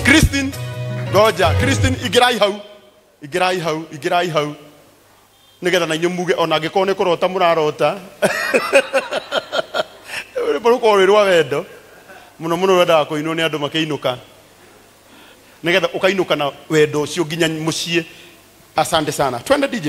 Christine ngoja Christine ingĩrai hau ingĩrai hau ingĩrai hau nĩgetha na inyuĩ muge ona angĩkorwo nĩ kũrota mũrarota rwĩmbo rũkorwo rwĩ rwa wendo mũno mũno rwendaga kũinwo nĩ andũ makĩinũka nĩgetha ũkainũka na wendo ũcio nginya mũciĩ asante sana twende dj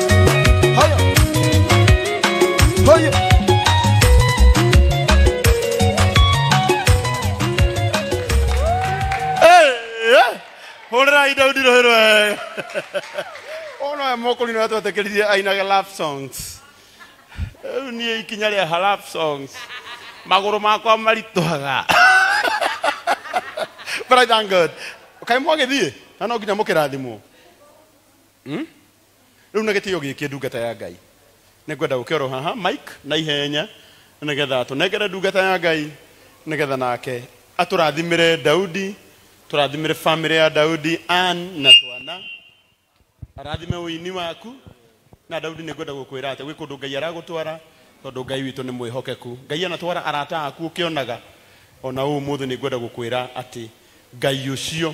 Hurrai Daudi Rohirwe. Ona mokoli na twate kiriye aina ga love songs. Rĩu niĩ ikinya rĩa ha love songs. Magũrũ makwa maritũhaga. But I thank God. Kaĩ mwagĩthiĩ? Na no nginya mũkĩrathimwo. Hmm? Rĩu na gĩtĩo gĩkĩ ndungata ya Ngai, nĩ ngwenda ũke oro haha Mike na ihenya nĩ getha tũnengere ndungata ya Ngai nĩ getha nake atũrathimĩre Daudi, tũrathimĩre famĩlĩ ya Daudi, Ann na twana, arathime ũini waku na Daudi nĩ ngwenda gũkwĩra atĩ gwĩ kũndũ Ngai aragũtwara tondũ Ngai witũ nĩ mwĩhokeku. Ngai anatwara arata aku ũkĩonaga ona ũmũthĩ nĩ ngwenda gũkwĩra atĩ Ngai ũcio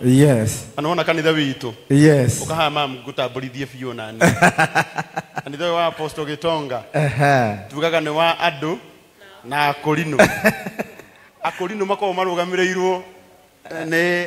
Yes. na nĩwona kanitha witũ Yes. ũkahaa mam ngũtambũrithie biũ nani kanitha ũyũ wa apostle gĩtonga Ehe. tugaga nĩ wa andũ na akũrinũ akũrinũ makoragwo marũgamĩrĩirwo eh, nĩ